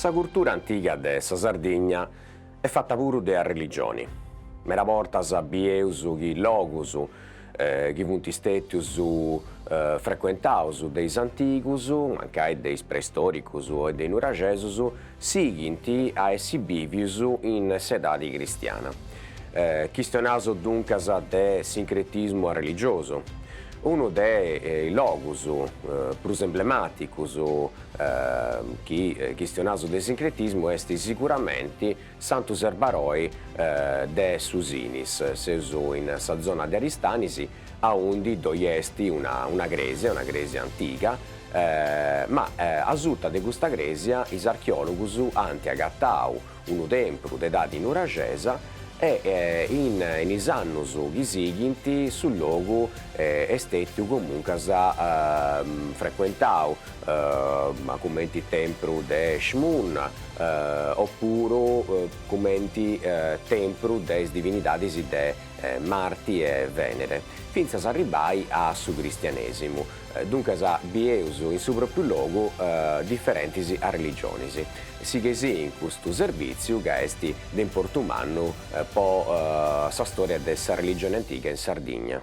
Sa curtura antiga de sa Sardigna est fata puru de arreligioni. Medas bortas bieus chi logus chi funt istètius frecuentaus de is antigus, mancai de is preistòricus o de is nuraxesus sighint a essi bìvius in s'edadi cristiana. Chistionaus duncas de sincretismu arreligiosu, unu de is logus prus emblemàticus chi chistionaus de sincretismu est siguramenti Santu Serbaroi de su Sinis, seus in sa zona de Aristanis aundi ddoi est una crèsia, una crèsia antiga, ma asuta de custa crèsia is archeòlogus ant agatau unu tempru de edadi nuraxesa e in is annus chi sighint su logu est stètiu comuncas frecuentau cumenti tempru de Eshmun opuru cumenti tempru de is divinidadis de Marti e Vènere, fintzas a arribbai a su cristianèsimu, duncas bieus in su pròpiu logu diferentis arreligionis sighei-sì custu servìtziu ca est de importu mannu po sa stòria de s'arreligioni antiga in Sardigna.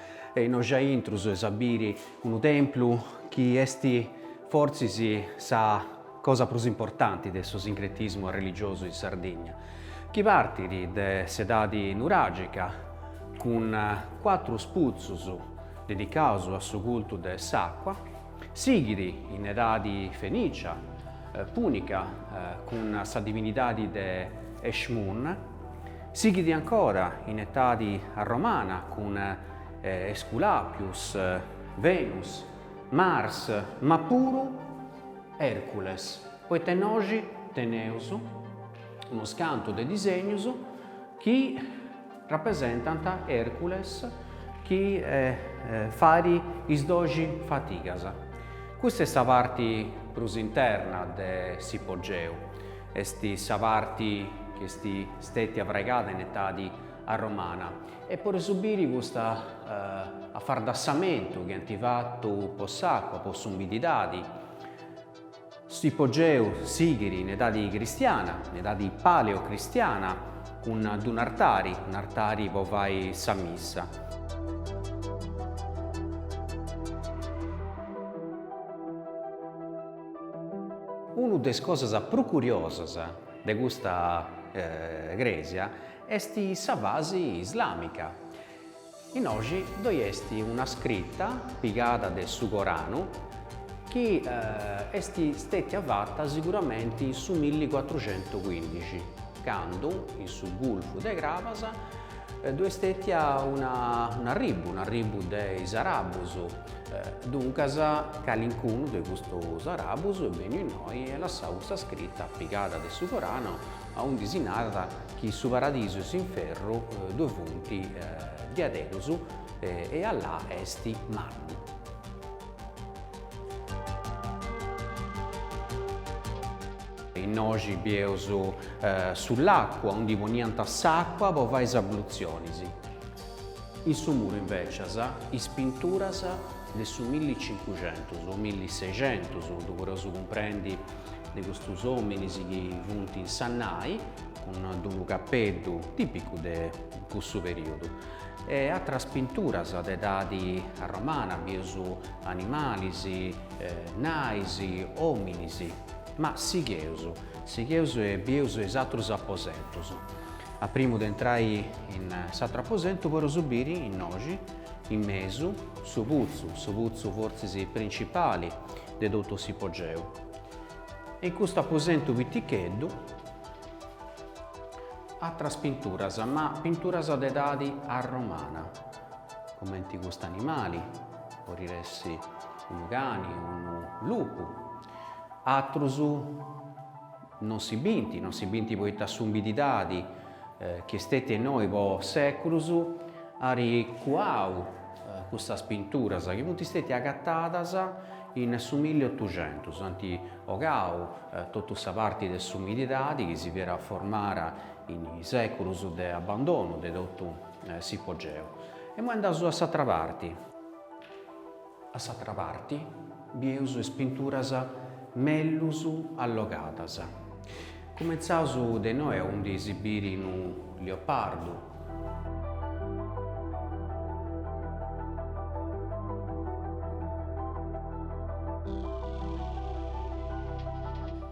Innoi aintru eus a biri unu templu chi esti fortzis sa cosa prus importanti de su sincretismu arreligiosu in Sardigna, chi partit de s'edadi nuragica cun cuatrus putzus dedicaus a su cultu de s'acua, Sighit in edadi fenìcia, pùnica, cun sa divinidadi de Eshmun. Sighit ancora in etadi romana cun Esculàpius, Venus, Mars, ma puru Ercules, poita nci teneus unus cantu de disegnus chi Rapresentant Ercules chi fait is doxi fatigas. Custa est sa parti prus interna de s'ipogeu, est sa parti chi est stètia fraigada in etadi arromana e podeus biri custa afardasamentu chi ant fatu po s'acua, po s'umididadi, S'ipogeu sighit in edadi cristiana, in edadi paleocristiana, cun d-un'artari, un'artari po fai sa missa. Una de is cosas prus curiosas de custa crèsia est sa fasi islàmica. Innoxi ddoi est una scrita pigada de su Coranu chi est stètia fata siguramenti in su millìcuatruxentucuindixi, candu, in su gulfu de Crabas, ddoi est stètia un'arribbu, un'arribbu de is arabbus, duncas calincunu de custus arabbus est bènniu innoi e lassau custa scrita pigada de su Coranu aundi si narat chi su paradisu e s'inferru ddoi funt diaderus e Allà est mannu. Innoxi bieus su lacu aundi poniant s'àcua po fai is ablutzionis. In su muru invècias is pinturas de su milli cincuxentus o milli sexentus, ddu podeus cumprendi de custus ominis chi funt in sa nai, cun d-unu capeddu tipicu de cussu periudu, e atras pinturas de edadi arromana, bieus animalis, nais, ominis. Ma sigheus, sigheus e bieus is atrus aposentus. A primu de intrai in s'atru aposentu poreus biri innoxi, in mesu, su putzu, su putzu fortzis principali, de totu s'ipogeu e in custu aposentu piticheddu atras pinturas ma pinturas de edadi arromana cumenti custu animali podit essi unu cani unu lupu atrus Non si binti, non si binti poita s'umididadi chi est stètia innoi po sèculus ari cuau custas pinturas chi funt stètia agatadas in su milliotuxentus, ant ogau totu sa parti de s'umididadi chi si fiat formara in sèculus de abandonu de totu s'ipogeu. Imoi andaus a s'atra parti. A s'atra parti bieus is pinturas mellus allogadas. Cumentzaus de innoi aundi si biri unu leopardu.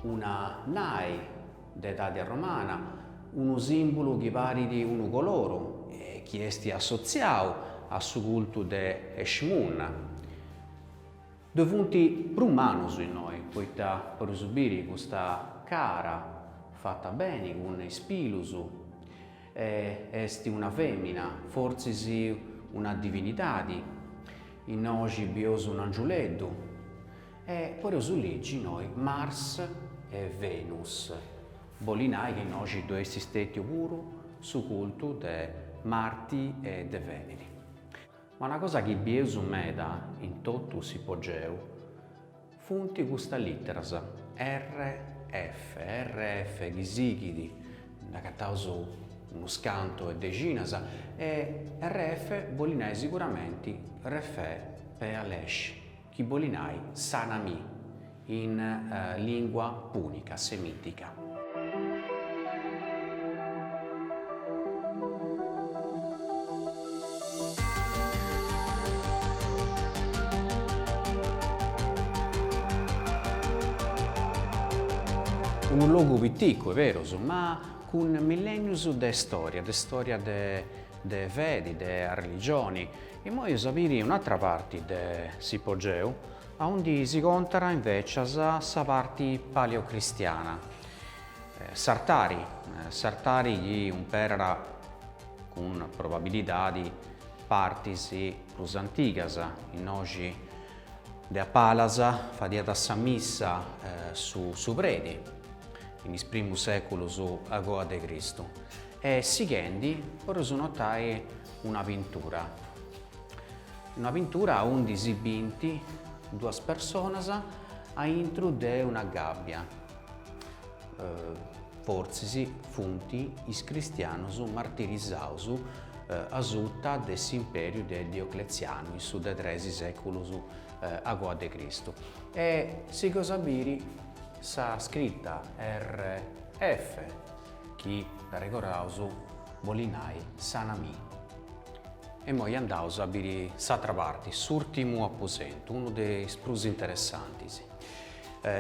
Una nai. de edadi arromana, unu sìmbulu chi parit unu coloru e chi est assotziau a su cultu de Eshmun. Ddoi funt prus manus innoi, poita poreus biri custa cara fata beni cun is pilus est una fèmina, fortzis una divinidadi. Innoxi bieus un'angiuleddu. E podeus legi innoi Mars e Venus. Boli nai chi innoxi ddoi est stètiu puru su cultu de Marti e de Vèneri. Ma una cosa chi bieus meda in totu s'ipogeu funt custas literas RF, RF de sighida, nd'agataus unus cantu 'e dexinas, e RF boli nai siguramenti Refè pe alesh. chi boli nai sana mi in lingua pùnica, semìtica. Unu logu piticu, est berus, ma cun millènnius de stòria, de stòria de fedi, de religioni, Immoi seus a biri un'atra parti de s'ipogeu, aundi si contat invècias sa parti paleocristiana, s'artari, s'artari chi umperat cun probabilidadi partis prus antigas, innoxi de a palas fadiat sa missa su su predi, in is primus sèculus a goa de Cristu, e sighendi podeus notai, una pintura, una pintura aundi si bint duas personas aintru de una gàbbia, fortzis funt is cristianus martirizaus asuta de s'impèriu de Diocletzianu in su de tres sèculus a goa de Cristu. E sighus a biri sa scrita RF chi, dd'arregoraus, boli nai sana mi. Immoi andaus a biri s'atra parti, s'urtimu aposentu, unu de is prus interessantis.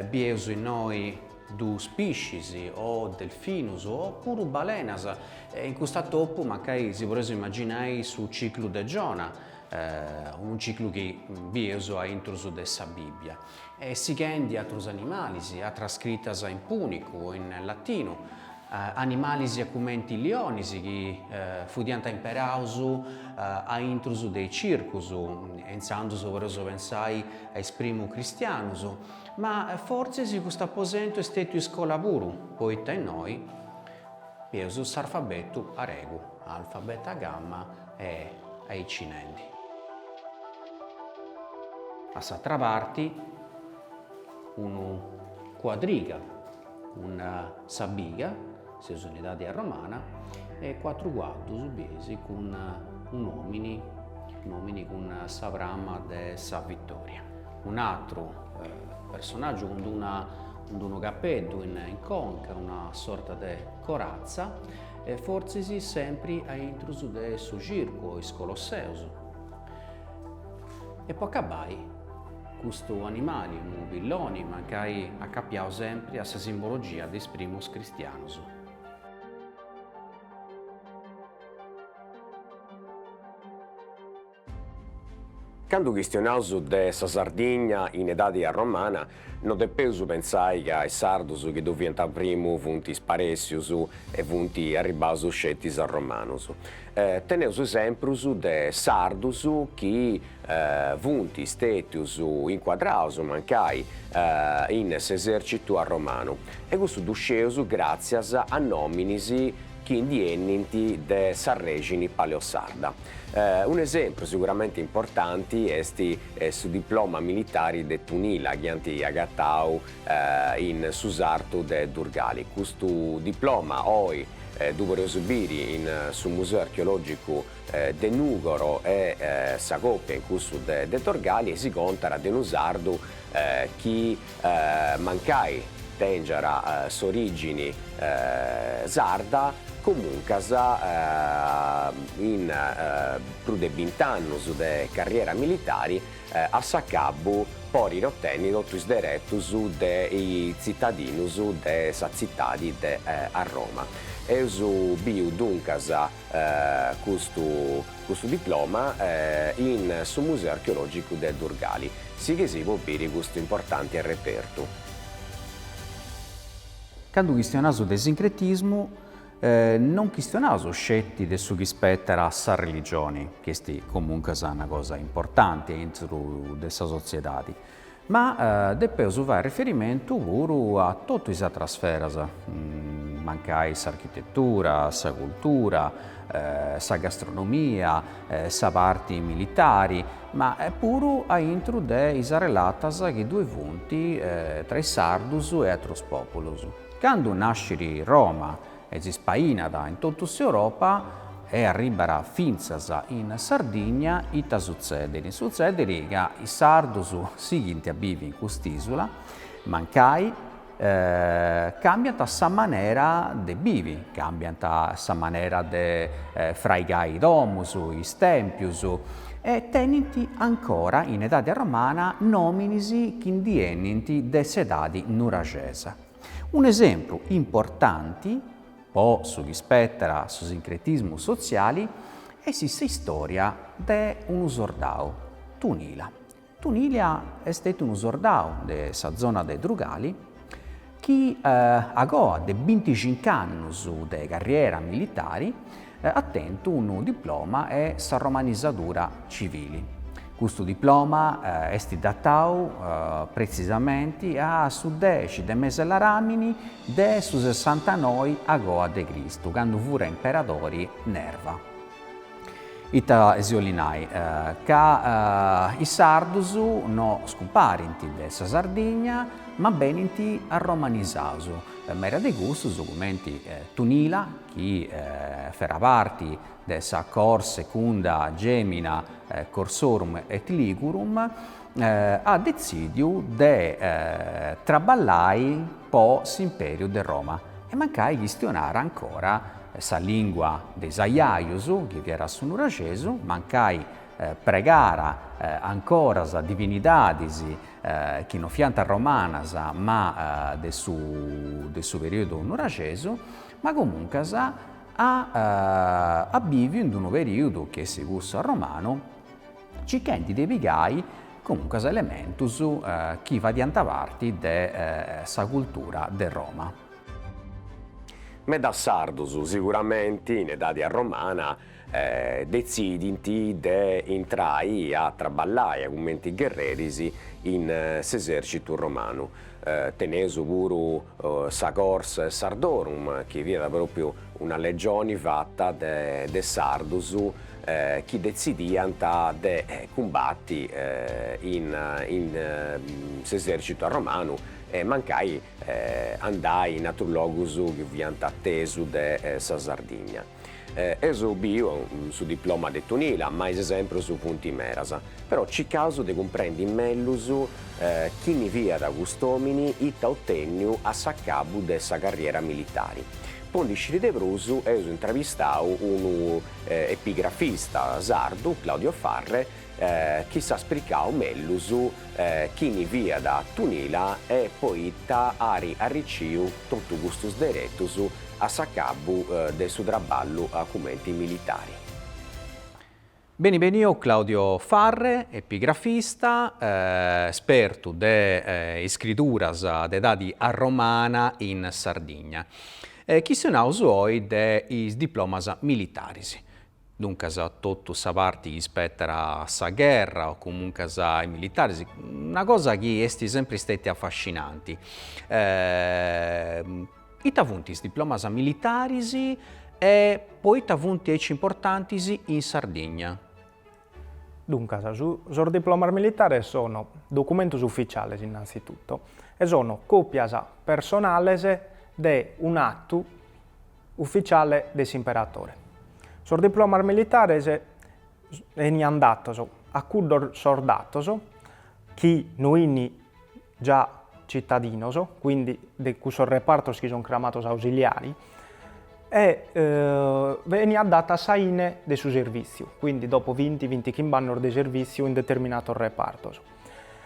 Bieus innoi duus piscis o delfinus o puru balenas e in custa topu mancai si poreus imaginai su ciclu de Giona, unu ciclu chi bieus a intrus de sa Bibbia. e sighendi atrus animalis, atras scritas in pùnicu o in latinu, animalis cumenti lionis chi fudiant imperaus a intrus de is circus, e intzandus podeus pensai a is primu cristianus, ma fortzis custu aposentu est stètiu iscola puru, poita innoi bieus s'arfabetu aregu, alfa, beta, gamma, E aici nendi. A s'atra parti unu cuadriga cun sa biga, seus in edadi arromana, e cuatru cuaddus bieis cun un'omini, un'omini cun sa prama de sa vittoria. Un'atru personaggiu cun d'una cun d'unu capeddu in conca, una sorta de corazza E fortzis sempri a intrus de su circu, is colosseus. E po acabai, custu animali, unu pilloni, mancai acapiau sempri a sa simbologia de is primus cristianus. Candu chistionaus de sa Sardigna in edadi arromana, no depeus pentzai ca is Sardus chi ddoi fiant primu funt sparèssius e funt arribbaus sceti is Arromanus. Teneus esemprus de Sardus chi funt stètius incuadraus mancai in s'esèrcitu arromanu, e cussu ddu sceus gràtzias a nòminis chi ndi 'enint de sa règini paleosarda. Un'esempru seguramente importanti est su diploma militari de Tunila chi ant agatau in su sartu de Durgali. Custu diploma oi ddu podeus biri in su Museu Archeològicu de Nùgoro e sa còpia in cussu de Dorgali e si contat de unu sardu chi Mancai tèngiat s'orìgini sarda, comuncas in prus de bint'annus de carriera militari a s'acabu podit otenni totu is deretus de tzitadinus de sa tzitadi de Arroma. Eus biu duncas custu custu diploma in su Museu Archeològicu de Durgali. Sighei-sì po biri custu importante repertu. Candu chistionaus de sincretismu, non chistionaus sceti de su chi ispetat a sa religioni, chi est comuncas una cosa importanti aintru de sa sotziedadi, Ma depeus fai riferimentu puru a totu is atras sferas, mancai s'architetura, sa cultura, sa gastronomia, sa parti militari, ma puru a intru de is arrelatas chi ddue funt tra is sardus e atrus pòpulus. Candu nascit Roma e si spainat in totu s'Europa e arribbat fintzas in Sardigna, ita sutzedit? Sutzedit ca is sardus sighint a bivi in cust'isula, mancai càmbiant sa manera de bivi, càmbiant sa manera de fraigai domus, is tèmpius, e tenint ancora in edadi arromana nominis chi ndi 'enint de s'edadi nuraxesa. Un'esempru importanti po su chi spettat a su sincretismu sotziali est s'istòria de unu sordau, Tunila. Tunila est stetu unu sordau de sa zona de Drugali chi, a coa de binticincu annus de carriera militari, at tentu unu diploma 'e sa romanisadura civili. Custu diploma est datau pretzisamenti a su dexi de mes'e Laramini de su sessantanoi a goa de Cristu, candu fure imperadori Nerva. Ita si 'olit nai? Ca is sardus no scumparint de sa Sardigna, ma benint arromanisaus. Meda de custus, cumenti Tunila, chi fera parti de sa cohors secunda gemina Corsorum et Ligurum, at detzìdiu de traballai po s'impèriu de Roma e mancai chistionara ancora sa lìngua de is ajajus, chi fiat su nuraxesu, mancai pregara ancora sas divinidadis chi non fiant romanas ma de su perìodu nuraxesu, Ma comuncas at bìviu in d-unu perìudu chi est cussu arromanu, circhendi de pigai comuncas elementus chi fadiant parti de sa cultura de Roma. Medas sardus siguramenti in edadi arromana detzidint de intrai a traballai cumenti gherreris in s'esèrcitu romanu. Teneus puru sa cohors Sardorum chi fiat pròpriu una legioni fata de sardus chi detzidiant de cumbati in s'esèrcitu arromanu e mancai andai in atrus logus chi fiant atesu de sa Sardigna. Eus biu su diploma de Tunila ma is esemprus funt meras, però cicaus de cumprendi mellus chini fiat cust'omini ita at otènniu a s'acabu de sa carriera militari. Po ndi sciri de prus eus intravistau unu epigrafista sardu, Claudio Farre, chi s'at spricau mellus chini fiat a Tunila e poita at arriciu totu custus deretus a s'acabu de su traballu cumenti militari. Beni beniu Claudio Farre, epigrafista, spertu de iscrituras de edadi arromana in Sardigna. Chistionaus oi de is diplomas militaris. Duncas totu sa parti chi ispetat a sa gherra o comuncuas a is militaris, una cosa chi est sempri stetia affascinanti. Ita funt is diplomas militaris e poita funt aici importantis in Sardigna? Duncas, sos diplomas militares sono documentos ufficiales innanzitutto e sono copias personales de un'attu, Ufficiale de s'imperatore. Sos diplomas militares enian datos a cuddos sordatos chi no ini già citadinos, quindi de cussos repartos chi son cramatos ausiliari, e veniat datu a sa ine de su servìtziu, quindi dopo vinti, vintichimb'annos de servìtziu in determinatos repartos.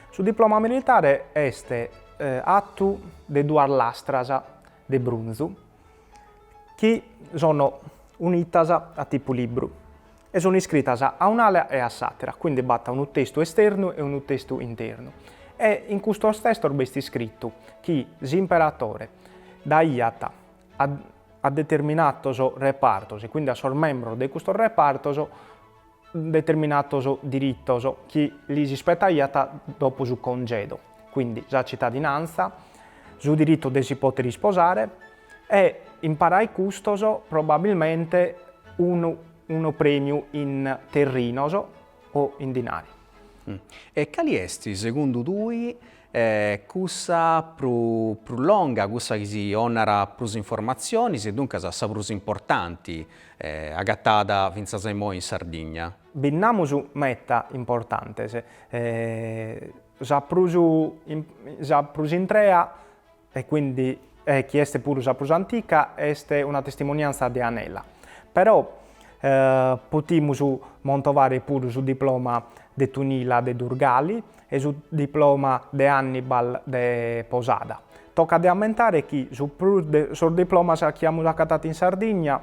Su diploma militare est atu de duas lastras de brunzu. chi sono unitas a tipu libru e sono iscritas a un'ala e a s'àtera, quindi b'at unu testu esternu e unu testu internu. E in custos testos b'at iscritu chi s'imperatore daiat a a determinatos repartos e quindi a sos membros de custos repartos determinatos diritos chi lis ispetaiat dopo su congedu, quindi sa citadinantza, su diritu de si pòter isposare e imparis a custos probabilmente unu unu prèmiu in terrinos o in dinari. E cali est, segundu tui, cussa prus longa, cussa chi si 'onat prus informatzionis e duncas sa prus importanti agatada finzas a imoi in Sardigna? Bi nd'amus meta importantes, sa prus sa prus intrea e quindi chi est puru sa prus antica, est una testimonianza de Anela. Però potimus montovare puru su diploma de Tunila de Durgali e su diploma de Hannibal de Posada. Tocat de ammentare chi su prus de sos diplomas chi amus acatatu in Sardigna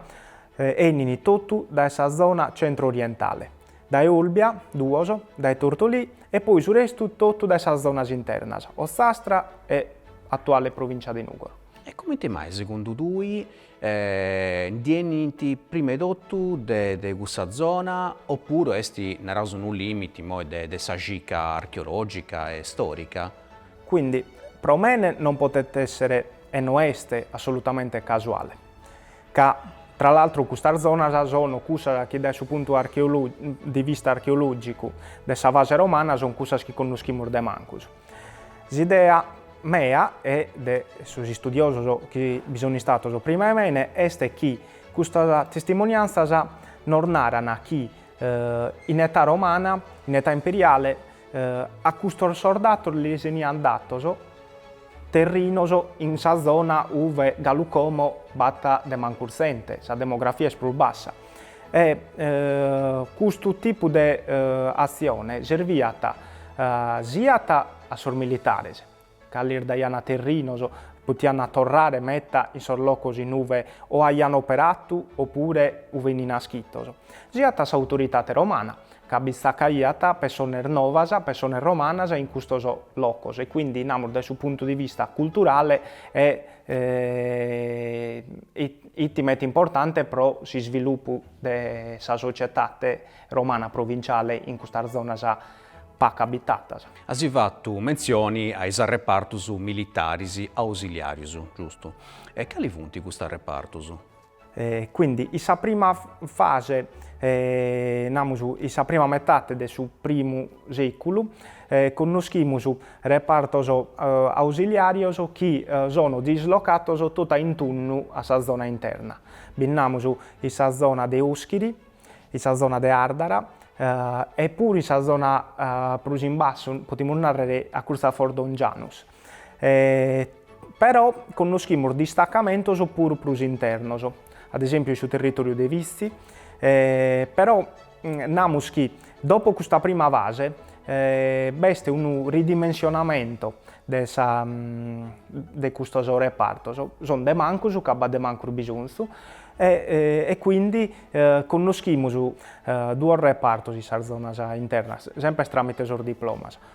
'enint totu dae sa zona centro-orientale. dae Olbia, duos, dae Tortolì e poi su restu totu dae sas zonas internas, Ozzastra e atuale Provìncia de Nùgoro. E comente mai, segundu tui, ndi 'enint prima 'e totu de cussa zona oppuru est, naraus unu lìmiti imoi de sa cica archeològica e stòrica? Quindi, pro mene non potet èssere e no est assolutamente casuale. ca tra l'altru custas zonas sono cussas chi dae su puntu de vista archeològicu de sa fase romana son cussas chi connoschimus de mancus. S'idea mea e de sos istudiosos chi bi son istatos prima 'e mene est chi custas testimoniantzas nos naran chi in età romana, in età imperiale a custos sordatos lis 'eniant datos, terrinos in sa zona uve galu como b'at de mancus zente sa demografia est prus bassa e custu tipu de atzione serviat siat a sos militares, ca lis daiant terrinos, potiant torrare meta in sos locos in uve o aiant operatu opure uve 'in naschitos, siat a s'autoritate romana, ca bi tzacaiat pessones novas, pessones romanas in custos locos e quindi namus dae su puntu di vista culturale 'it meta importante pro s'isvilupu de sa societate romana provinciale in custas zonas pacu abitatas. As fatu mentzioni a is arrepartus militaris ausiliàrius, giustu? E cali funt custus arrepartus? Quindi in sa prima fase, namus in sa prima metade de su primu sèculu, connoschimus repartos ausiliàrios chi sono dislocatos tota in tundu a sa zona interna. Bi nd'amus in sa zona de Oschiri, in sa zona de Àrdara e puru in sa zona prus in bassu, potimus nàrrere a curtzu a Fordongianus. Però connoschimus distacamentos puru prus internos, ad esèmpiu in su territòriu de Vitzi, però namus chi dopo custa prima fase b'est unu ridimensionamentu de sa de custos repartos, son de mancus ca b'at de mancus bisonzu e quindi connoschimus duos repartos in sas zonas internas, semper tramite sos diplomas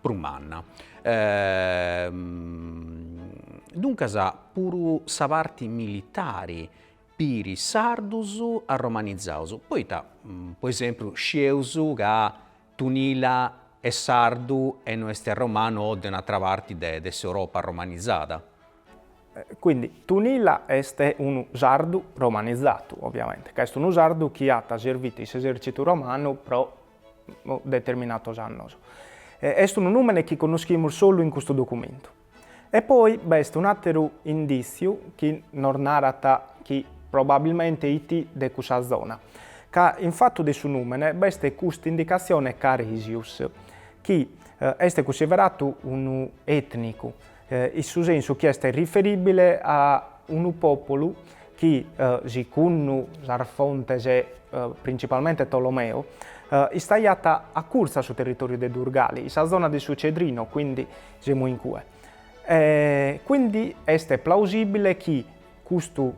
prus manna. Duncas puru sa parti militari piri is sardus arromanizaus, poita po esempiu scieus ca Tunila est sardu e no est arromanu o de un'atra parti de de s'Europa arromanizada. Quindi Tunila est unu sardu romanizatu, ovviamente, ca est unu sardu chi at servitu in s'esercitu romanu pro determinatos annos. Est unu nùmene chi connoschimus solu in custu documentu. E poi b'est un'àteru indìtziu chi nos narat chi probabilmente it de cussa zona, ca in fatu de su nùmene b'est custa indicatzione Caresius, chi est cunsideratu unu ètnicu, in su sensu chi est riferibile a unu pòpulu chi, sigundu sas fontes principalmente Tolomeo, istaiat acurtzu a su territòriu de Durgali, in sa zona de su Cedrino, quindi semus in cue. Quindi est plausibile chi Custu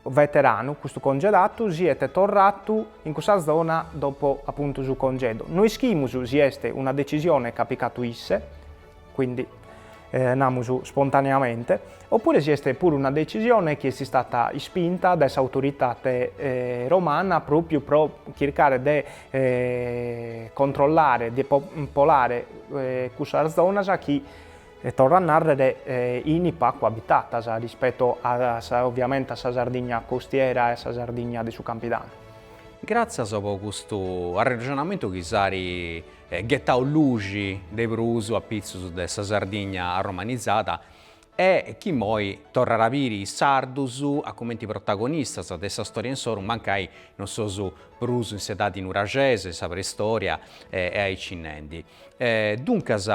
veteranu, custu congedatu, siet torratu in cussa zona dopo apuntu su congedu. No ischimus si est una decisione ch'at picatu isse, quindi namus spontaneamente, oppure si est puru una decisione chi est istata ispinta dae s'autoritate romana pròpiu pro chircare de controllare, de popolare cussas zonas chi torro a nàrrere in pacu abitatas rispeto ovviamente a sa Sardigna costiera e a sa Sardigna de su Campidanu. Gràtzias pro custu arrexonamentu chi s'ari ghetau luxi de prus apitzus de sa Sardigna arromanizada e chi imoi torrat a biri is sardus a cumenti protagonistas de sa stòria insoru mancai non seus prus in s'edadi nuraxesa, in sa preistòria e aici nendi. E duncas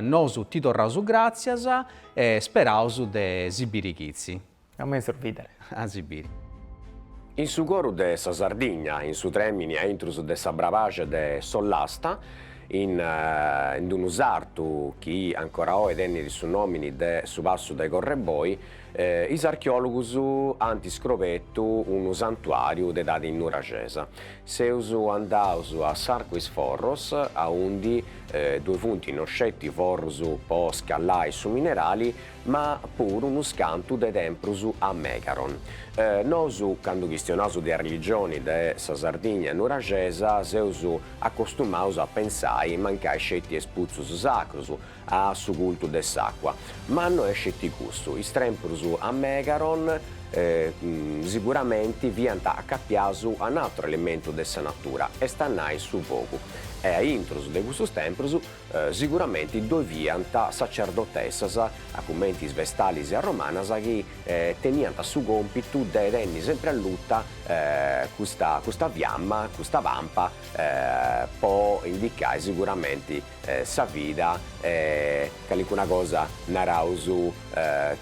nosu ti torraus gràtzias e speraus de si biri chitzi. A mezus bìdere. A si biri. In su coru de sa Sardigna, in su trèmini a intrus de sa Brabaxa de s'Ollasta, in d-unu sartu chi ancora oi tenit su nòmini de su passu de Correboi, Is archeòlogus ant iscrobetu unu santuàriu de edadi nuraxesa. Seus andaus a s'Arcu is Forros, aundi ddue funt no sceti forrus po scallai su minerali, ma puru unu scantu de temprus a megaron. Nosu, candu chistionaus de arreligioni de sa Sardigna nuraxesa, seus acostumaus a pensai mancai sceti a is putzus sacrus, a su cultu de s'àcua. Ma no est sceti custu, is temprus a Megaron siguramenti fiant acapiaus a un'atru elementu de sa natura, est a nai su fogu, e a intrus de custus temprus siguramenti ddoi fiant sacerdotessas, cumenti is vestalis romanas, chi teniant su còmpitu de tenni sempri alluta custa fiamma, custa pampa, po indicai siguramenti sa vida e calincuna cosa naraus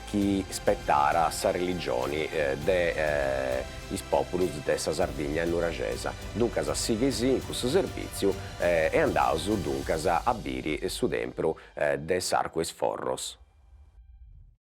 chi spetat a sa religioni de is populus de sa Sardigna nuraxesa. Duncas sighei·sì in cussu serviziu e andaus duncas a biri su tempru de s'Arcu 'e is Forros.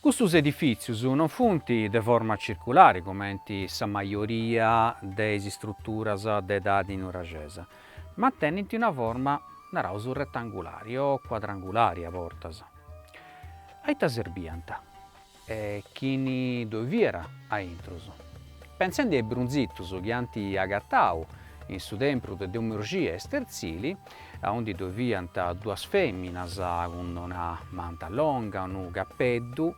Custus edifìtzius non funt de forma circulari cumenti sa majoria de is istruturas de edadi nuraxesa, ma tenint una forma, naraus, retangulari o cuadrangulari a bortas. A ita serbiant e chini ddoi fiat a intrus? Pentzendi a is brunzitus chi ant agatau in su tempru de Domu 'e Urxia a Sterzili, aundi ddoe fiant duas fèminas cun una manta longa, unu capeddu,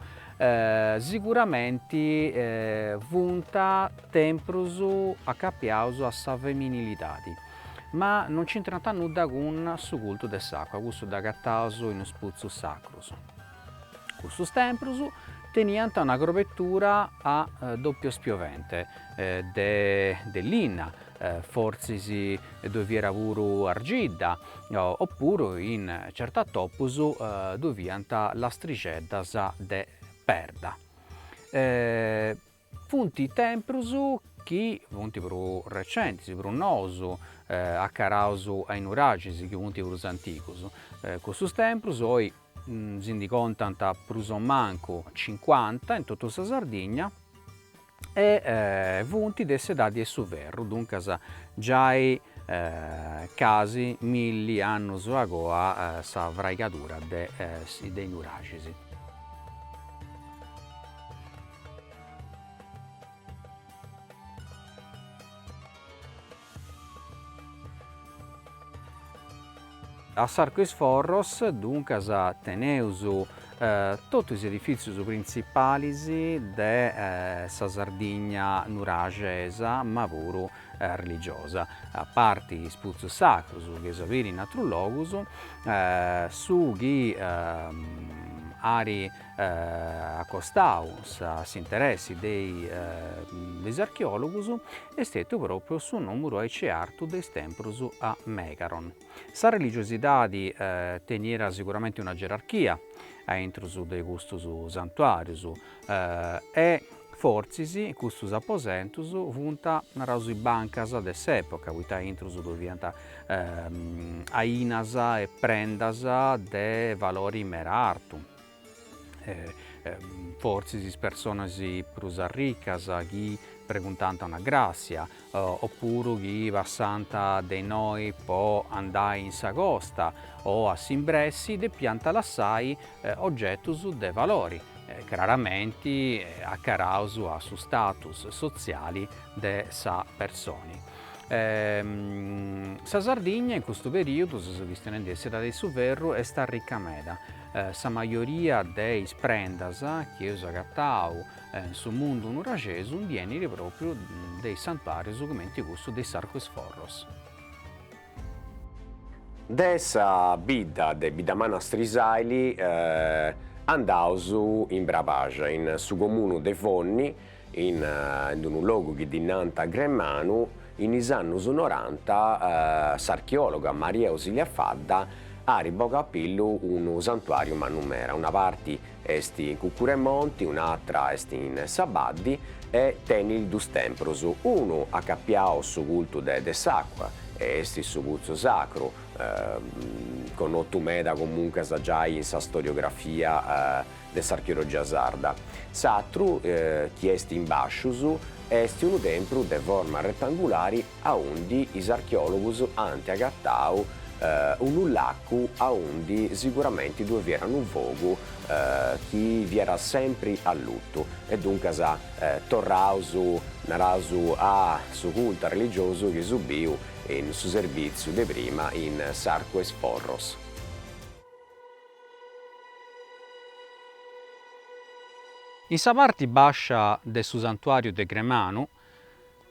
siguramenti funt temprus acapiaus a sa feminilidadi, ma non nch'intrant nudda cun su cultu de s'àcua, cussu dd'agataus in is putzus sacrus. Cussus temprus teniant una crobetura a dòppiu spiovente de linna, fortzis ddoi fiat puru argidda, o puru in certus atopus ddoi fiant lastrixeddas de perda. Funt temprus chi funt prus recentis, prus nous, acaraus a is nuragis chi funt prus antigus. Cussus temprus oi si ndi contant prus o mancu cincuanta in totu sa Sardigna e funt de s'edadi 'e su ferru, duncas giai casi milli annus agoa sa fraigadura de is nuragis. A s'Arcu 'is Forros, duncas, teneus totu is edifìtzius printzipalis de sa Sardigna nuraxesa, ma puru religiosa, a parti is putzus sacrus chi eus a biri in atrus logus, su chi arit Acostau a s'interessi de is archeòlogus est stetiu pròpriu su nùmeru aici artu de is tempus a Megaron. Sa religiosidadi teniat siguramenti una gerarchia a intrus de custus santuàrius e fortzis custus aposentus funt, naraus, is bancas de s'època, poita a intrus ddoi fiant ainas e prendas de valori meda artu. fortzis is personas prus arricas chi preguntànt una gràssia opuru chi passànt de innoi po andai in sa costa o a s'imbressi depiant lassai ogetus de valori, craramenti acaraus a su status sotziali de sa personi. Sa Sardigna in custu perìodu, seus chistionendi de s'edadi 'e su ferru, est arrica meda. Sa majoria de is prendas chi eus agatau in su mundu nuraxesu ndi 'enit pròpriu de is santuàrius cumenti cussu de s'Arcu 'e is Forros. De sa bidda de Biddamanna Strisàili andaus in Bravaxa, in su comunu de Fonni, in d-unu logu chi ddi nant Gremanu, in is annus noranta s'archeòloga Maria Ausilia Fadda arit bogau a pillu unu santuàriu mannu meda, una parti est in cùcuru 'e monti, un'atra est in sa baddi e tenit dus tempros, unu acapiau a su cultu de s'àcua e est su Putzu Sacru connotu meda comuncas giai in sa storiografia de s'archeologia sarda. S'atru, chi est in bàsciu, est unu tempru de forma retangulari aundi is archeòlogus ant agatau unu lacu aundi siguramenti ddue fiat unu fogu chi fiat sempri allutu e duncas torraus, naraus, a su cultu arreligiosu chi eus biu in su serbìtziu de prima in s'Arcu 'e is Forros. In sa parti bàscia de su santuàriu de Gremanu,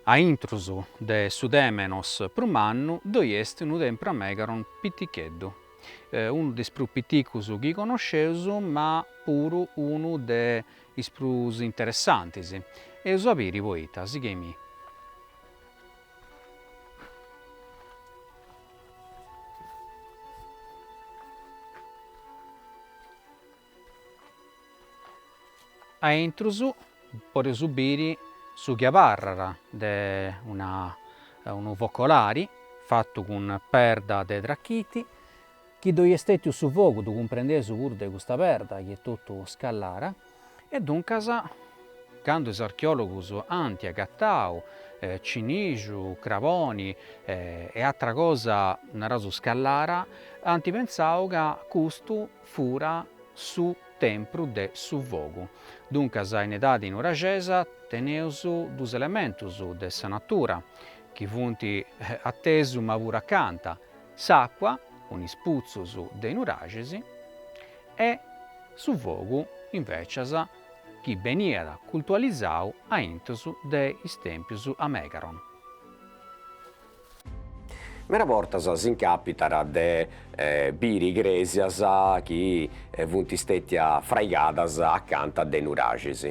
a intrus de su Tèmenos prus mannu, ddoi est unu tempru a Megaron piticheddu, unu de is prus piticus chi conosceus ma puru unu de is prus interessantis, eus a biri poita, sighei-mì. A intrus podeus biri su chi abarrat de unu focolari fatu cun perda de trachiti Chi ddoi est stètiu su fogu ddu cumprendeus puru de custa perda chi est totu scallara e duncas candu is archeòlogus ant agatau cinixu, craboni e atra cosa, naraus scallara, ant pentzau ca custu fura su tempru de su fogu. Duncas in edadi nuraxesa teneus dus elementus de sa natura chi funt a tesu ma puru acanta, S'àcua, cun is putzus de nuraxis, e su fogu, invècias, chi beniat cultualizau aintus de is tèmpius a Megaron. Mera bortas s'incàpitat de biri crèsias chi funt stètias fraigadas acanta de nuraxis.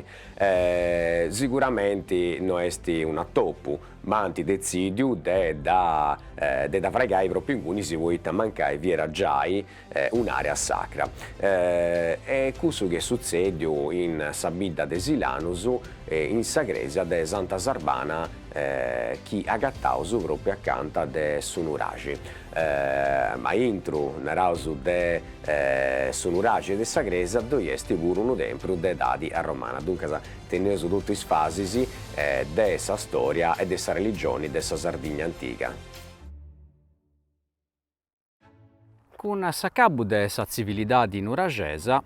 Siguramenti no est un'atopu, ma ant detzìdiu de dda fraigai pròpiu ingunis poita mancai fiat giai un'àrea sacra. E cussu chi est sutzèdiu in sa bidda de Silanus in sa crèsia de Santa Sarbana chi agataus pròpiu acanta de su nuraxi, ma intru naraus de su nuraxi e de sa crèsia ddoi est puru unu tempru de edadi arromana duncas Teneus totu is fasis de sa stòria e de sa religioni de sa Sardigna antiga. Cun s'acabbu de sa tzivilidadi nuraxesa,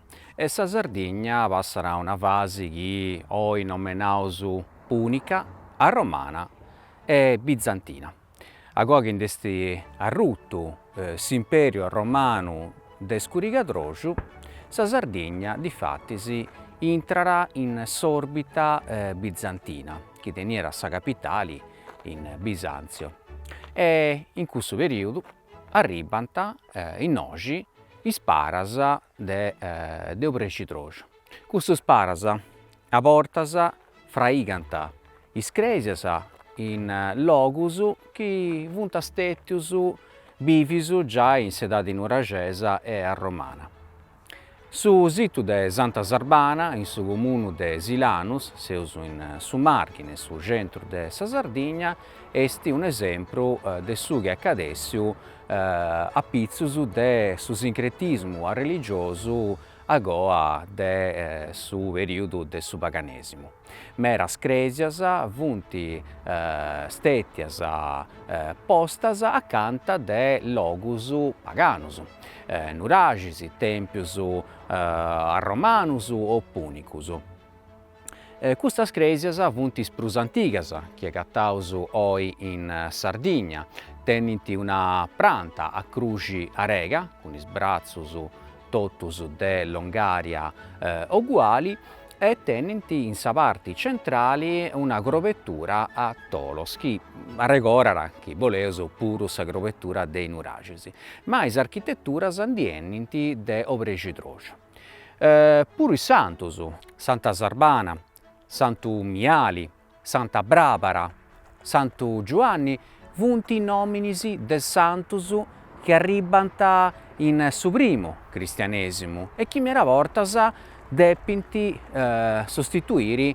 sa Sardigna passat a una fasi chi oi nomenaus pùnica, arromana e bizantina. Agoa chi nd'est arrutu s'impèriu romanu de Scurigadroxu, sa Sardigna difatis intrat in s'òrbita bizantina chi teniat sa capitali in Bisàntzio e in cussu perìodu arribant innoxi is paras de Obrescidroxu. Custus paras a bortas fraigant is crèsias in logus chi funt stètius bìvius giai in s'edadi nuraxesa e arromana. Su situ de Santa Sarbana, in su comunu de Silanus, seus in su Màrghine, in su centru de sa Sardigna, est un'esempru de su chi est acadèssiu apitzus de su sincretismu arreligiosu agoa de su perìodu de su paganèsimu. Meras crèsias funt stètias postas acanta de logus paganus, nuraxis, tèmpius arromanus o pùnicus. Custas crèsias funt is prus antigas chi agataus oi in Sardigna, tenint una pranta a cruxi grega, cun is bratzus totus de longària oguali, e tenint in sa parti centrali una grobetura a tolos chi arregorat, chi boleus, puru sa grobetura de i nuraxis. Ma is architeturas nd' 'enint de obrexidroxu. puru is santus, Santa Sarbana, Santu Miali, Santa Brabara, Santu Giuanni funt nominis de santos chi arribbant in su primu cristianesimu e chi meda bortas depint sostituiri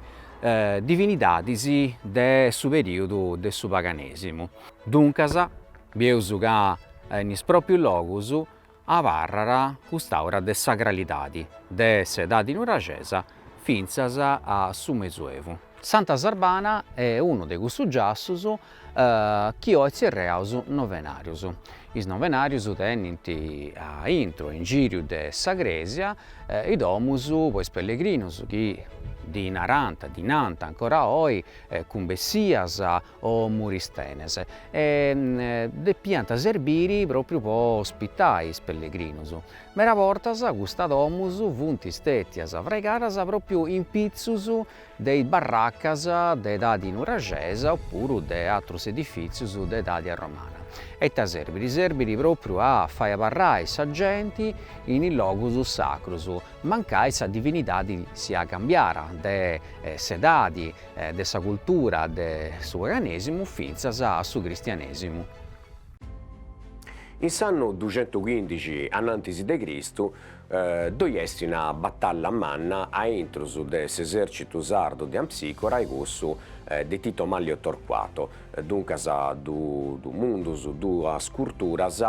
divinidadis de su periudu de su paganesimu. Duncas bieus ca in is proprius logus abarrat cust'aura de sacralidadi de s'edadi nuraxesa fintzas a su mezuevu. Santa Sarbana est unu de cussus giassus chi oi tzerreaus novenarius. Is novenarius tenint a intro e in giriu de sa crèsia is domus po is pellegrinus chi ddis narant, ddis nant ancora oi cumbessias o muristenes e depiant serbire pròpriu po ospitai is pellegrinus. Meda bortas custas domus funt stètias fraigadas pròpriu in pitzus de is barracas de edadi nuraxesa o puru de atrus edifìtzius de edadi arromana. E ita serbit? Serbit pròpriu a fai abarrai sa genti in is logus sacrus, mancai sa divinidadi siat cambiada de s'edadi de sa cultura de su paganesimu fintzas a su cristianesimu. In s'annu duxentuchindixi a nantis de Cristu ddoi est una batalla manna a intrus de s'esercitu sardu de Ampsicora e cussu de Tito Manlio Torquato, duncas dus mundus duas curturas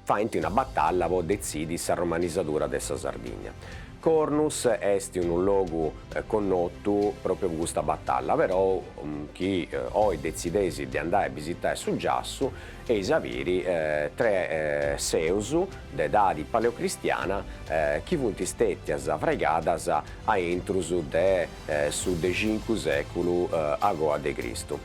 faint una batalla po detzidi sa romanizadura de sa Sardigna. Cornus est unu logu connotu pròpriu po custa batalla, però chi oi detzideis de andai a bisitai su giassu, eis a biri tres seus de edadi paleocristiana chi funt stètias fraigadas a intrus de su de cincu sèculu a goa de Cristu.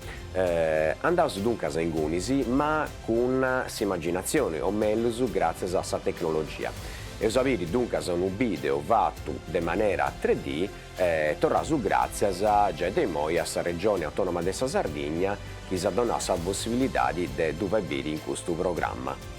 Andaus duncas a ingunis ma cun s'imaginatzioni o mellus gràtzias a sa tecnologia. Eus a biri duncas unu bìdeo fatu de manera tre dì e torraus gràtzias giai de imoi a sa Regioni Autònoma de sa Sardigna chi s'at donau sa possibilidadi de ddu fai biri in custu programma.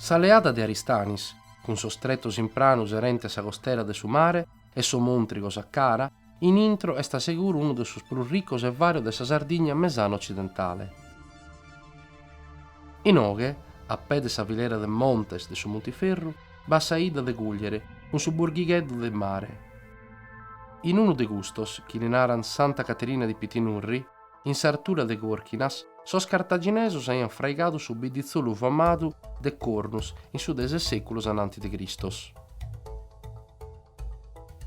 Sa leada de Aristanis, cun sos tretos in pranu serente sa costera de su mare e sos montrigos a cara a intro est seguru unu de sos prus ricos e varios de sa Sardigna mesana-otzidentale. Inoghe, a pè de sa filera de montes de su Montiferru, b'at sa 'idda de Cùgliere cun su burghigheddu de mare. In unu de custos, chi li naran Santa Caterina di Pitinurri, in s'artura de Corchinas, sos cartaginesos aian fraigadu su bidditzolu famadu de Cornus in su de ses seculos ananti de Cristos.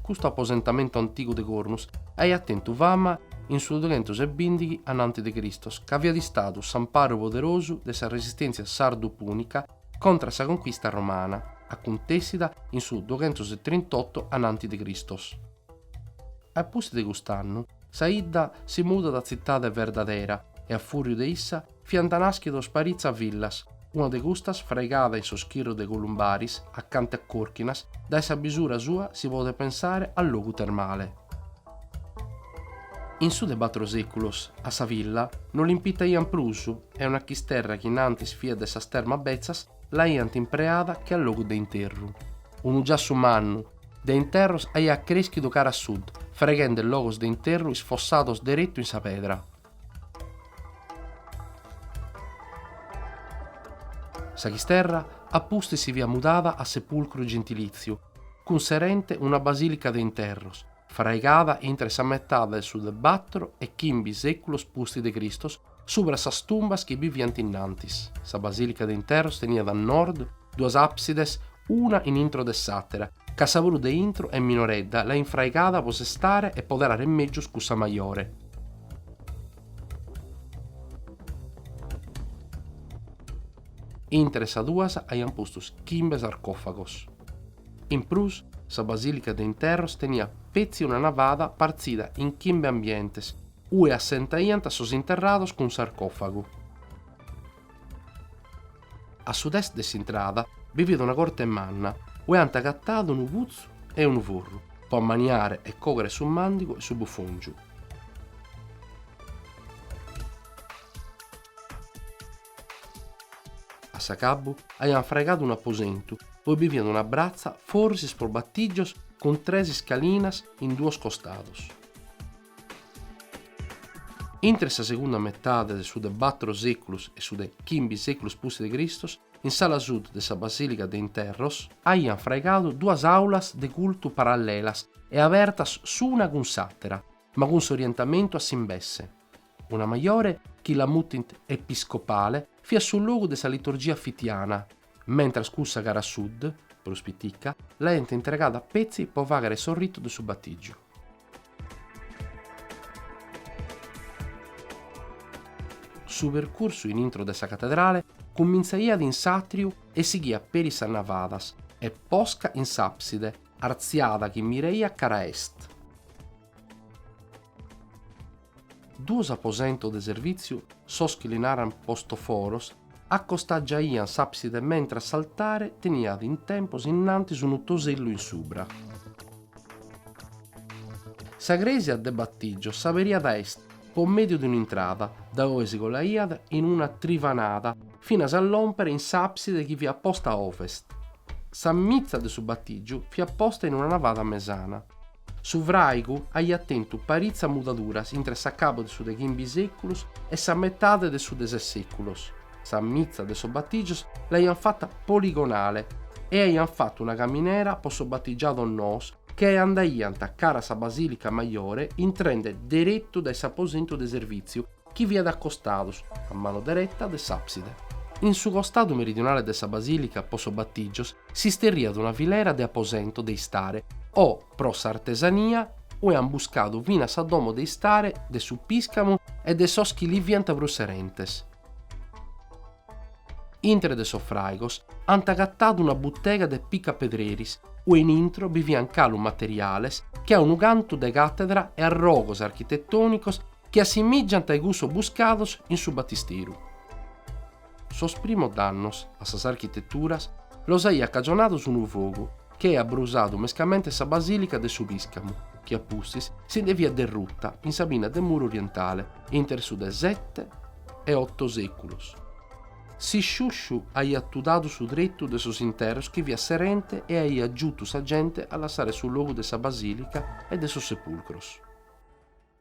Custu aposentamentu antigu de Cornus aiat tentu fama in su dughentos e bìndighi ananti de Cristos ca fiat istadu s'amparu poderosu de sa resistèntzia sardu-pùnica contra sa conquista romana, acuntessida in su dughentos e trintotto ananti de Cristos. A pustis de cust'annu, sa 'idda si mudat a tzitade verdadera e a fùriu de issa fiant nàschidos paritza villas, una de custas fraigada in sos chirros de Columbaris, acante a Còrchinas, dae sa bisura sua si podet pensare a logu termale. In su de batro seculos a sa villa no l'impitaiant prus e una chisterra chi in antis fiat de sas termas betzas l'aiant impreada che a logu de interru. Unu giassu mannu de interros aiat creschidu cara a sud, freghende logos de interru isfossados deretu in sa pedra. Sa chisterra a pustis si fiat mudada a sepulcru gentilìtziu, cun serente una basìlica de interros, fraigada intre sa metade de su de batro e chimbi sèculos pustis de Cristos subra sas tumbas chi bi fiant innantis. Sa basìlica de interros teniat a nord duas àpsides una in intro de s'àtera, Ca sa prus de intro est minoredda, l'aiant fraigada po sestare e poderare mègius cussa majore. Intre sas duas aiant postos chimbe sarcòfagos. In prus, sa basìlica de interros teniat petzi una navada partzida in chimbe ambientes, ue assentaiant sos interrados cun sarcòfagu. A sud-est de s'intrada bi fiat una corte manna ue ant agatadu unu putzu e unu forru po ammaniare e coghere su màndigu e su bufòngiu. A s'acabbu aiant fraigadu unu aposentu ue bi fiat una bratza forsis pro batìgios cun tres iscalinas in duos costados. Intre sa segunda metade de su de battoro seculus e su de chimbi seculus pustis de Cristos, in s'ala sud de sa basilica de interros, aiant fraigadu duas aulas de cultu parallelas e abertas s'una cun s'attera, ma cun s'orientamentu a s'imbesse. Una maiore, chi la mutint episcopale, fiat su logu de sa liturgia fitiana, mentras cussa cara a sud, prus pitica, l'aiant intregada a petzi po fàghere su ritu de su batìgiu. Su percursu in intro de sa catedrale cumintzaiat in s'àtriu e sighiat peri sas navadas e posca in s'àpside artziada chi miraiat cara a est. Duos aposentos de servìtziu, sos chi li narant postoforos, acostagiaiant s'àpside mentras s'altare teniat in tempos innantis unu tosellu in subra. Sa crèsia de batìgios s'aberiat a est po mèdiu de un'intrada, dae ue si colaiat in una trivanada finas a lòmpere in s'àpside chi fiat posta a ovest. Sa mitza de su batìgiu fiat posta in una navada mesana. Su fràigu aiat tentu paritzas mudaduras intre s'acabu de su de chimbi sèculos e sa metade de su de ses sèculos, sa mitza de sos batìgios l'aiant fata poligonale e aiant fatu una caminera pro sos batigiados noos chi andaiant cara a sa basìlica majore intrende deretu dae s'aposentu de servìtziu chi fiat a costados, a manu dereta, de s'àpside. In su costadu meridionale de sa basìlica po sos batìgios s'isterriat una filera de aposentos de istare o pro s'artesania ue ant buscadu finas sa domo de istare de su pìscamu e de sos chi li fiant prus serentes. Intre de sos fràigos ant agatadu una butega de picapedreris ue in intro bi fiant galu materiales che a unu cantu de càtedra e arrogos architetònicos Chi assimìgiant a i cussos buscados in su Batisteru. Sos primos dannos a sas architeturas los aiat cagionados unu fogu chi aiat brusadu mescamente sa basìlica de su Piscamu, chi a pustis si nde fiat derruta in sa pinna de muru orientale intre su de sete e oto sèculos. S'isciusciu aiat tudadu su tretu de sos interros chi fiat serente e aiat giutu sa gente a lassare su logu de sa basìlica e de sos sepulcros.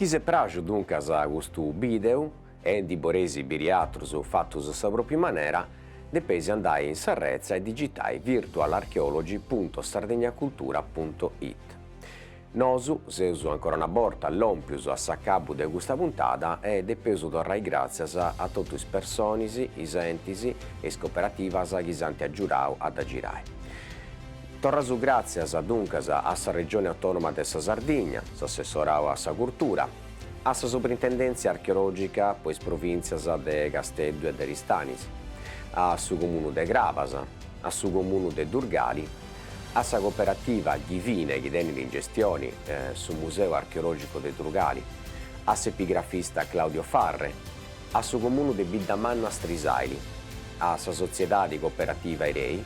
Chi si praxit duncas custu bìdeu e ndi boreis biri atrus fatus a sa pròpriu manera, depeis andai in sa retza e digitai virtualarchaeology punto sardegnacultura punto it. Nosu seus ancora una borta lòmpius a s'acabu de custa puntada e depeus torrai gràtzias a totu is personis, is entis e is coperativas chi s'ant agiudau a dda girai. Torraus gràtzias, duncas, a sa Regione Autònoma de sa Sardigna, a s'Assessorau a sa Curtura, a sa Suprintendèntzia Archeològica po is provìntzias de Casteddu e de Ristanis, a su Comunu de Crabas, a su Comunu de Durgali, a sa Cooperativa Ghivine chi tenit in gestioni su Museu Archeològicu de Durgali, a s'epigrafista Claudio Farre, a su Comunu de Biddamanna Strisaili, a sa Sotziedadi Cooperativa Irei,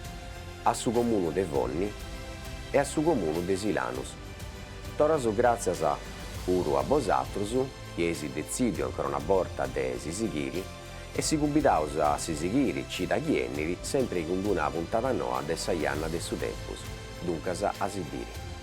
a su Comunu de Fonni e a su Comunu de Silanus. Torraus gràtzias puru a bosatrus chi eis detzìdiu ancora una borta de si sighiri e si cumbidaus a si sighiri cida chi benit sempri cun d-una puntada noa de Sa Janna de su Tempus, duncas a si biri.